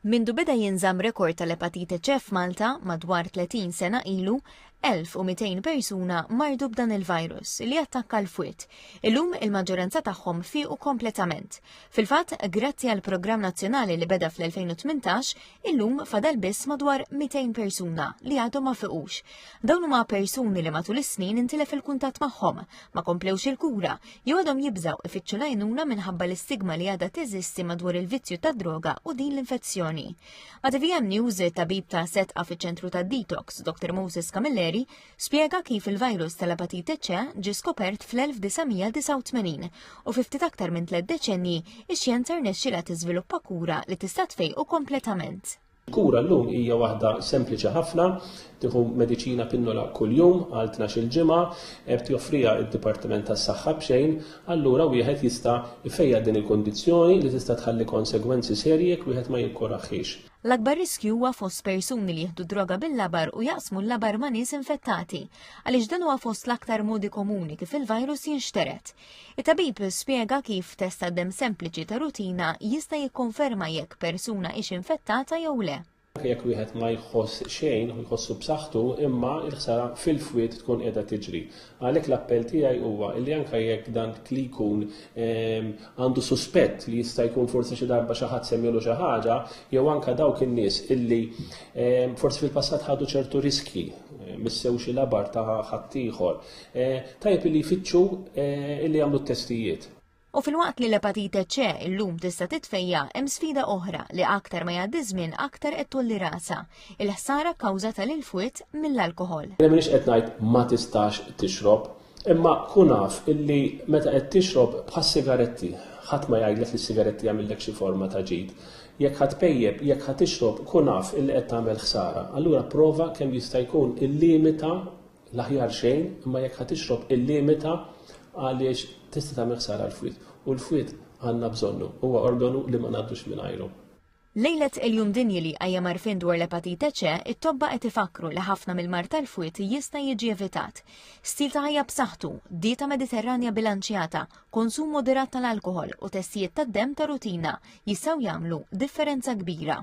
Mindu beda jinżamm rekord tal-epatite C f'Malta madwar 30 sena ilu, 1,200 persuna mardu b'dan il-virus li attakka l-fwied. Illum il-maġġoranza tagħhom fiequ kompletament. Fil-fatt, grazzi għal programm nazzjonali li beda fl-2018, illum fadal biss madwar 200 persuna li għadhom ma fiqux. Dawn huma persuni li matul is-snin intilef il-kuntatt magħhom, ma komplewx il-kura, Jgħodhom jibżaw ifittxu lajnuna minħabba l-istigma li għadha teżisti madwar il-vizzju ta' droga u din l-infezzjoni. Ma' TVM News, tabib ta' setqa fi ċentru ta' detox, Dr. Moses Camilleri, spiega kif il-virus tal-apatite ċe ġi skopert fl-1989 u fi ftit aktar minn tliet deċenji ix-xjenza rnexxilha tiżviluppa kura li tista' tfejqu kompletament. Il-kura llum hija waħda sempliċi ħafna, tieħu mediċina pinnola kuljum għal tnax-il ġimgħa, qed joffriha d-Dipartiment tas-Saħħa b'xejn, allura wieħed jista' jfejjaq din il-kundizzjoni li tista' tħalli konsegwenzi serji jekk wieħed ma jikkurahhiex. L-akbar riskju huwa fost persuni li jieħdu d-droga bil-labar u jaqsmu l-labar ma' nies infettati, għaliex dan huwa fost l-aktar modi komuni kif il-virus jinxtered. It-tabib spjega kif test ta' demm sempliċi ta' rutina jista' jikkonferma jekk persuna hix infettata jew le. Jekk wieħed ma jħoss xejn u jħossu b'saħħtu imma l-ħsara fil-fwied tkun qiegħda tiġri. Għalhekk l-appell tiegħi huwa li anke jekk dak li jkun għandu suspett li jista' jkun forsi xi darba xi ħadd semmielu xi ħaġa jew anke dawk in-nies illi forsi fil-passat ħadu ċertu riskji, missew xi labar ta' ħaddieħor, Eh, tajb li jfittxu eh, li jagħmlu t-testijiet. U filwaqt li l-epatite ċe illum tista' titfejja hemm sfida oħra li aktar ma jgħaddi żmien aktar qed tulli rasa, il-ħsara kawża tal fwit mill-alkohol. Jien m'iniex qed ngħid ma tistax tixrob, imma kun naf illi meta qed tixrob bħas sigaretti, ħadd ma jgħidlek li sigaretti jagħmillek xi forma ta' ġid. Jekk ħadd pejjeb, jekk ħadd tixrob, kun naf illi qed tagħmel ħsara. Allura prova kemm jista' jkun il-limita L-aħjar xejn, imma jekk ħa tixrob illimita għaliex tista' tagħmel ħsara l-fwied, u l-fwied għandna bżonnu, huwa organu li ma ngħaddux mingħajru. Lejlet il-Jum Dinji li jqajjem għarfien dwar l-Epatite C, it-tobba qed ifakkru li ħafna mill-mard tal-fwied jista' jiġi evitat. Stil ta' ħajja b'saħħtu, dieta Mediterranja bilanċjata, konsum moderat tal-alkoħol u testijiet tad-demm ta' rutina jistgħu jagħmlu differenza kbira.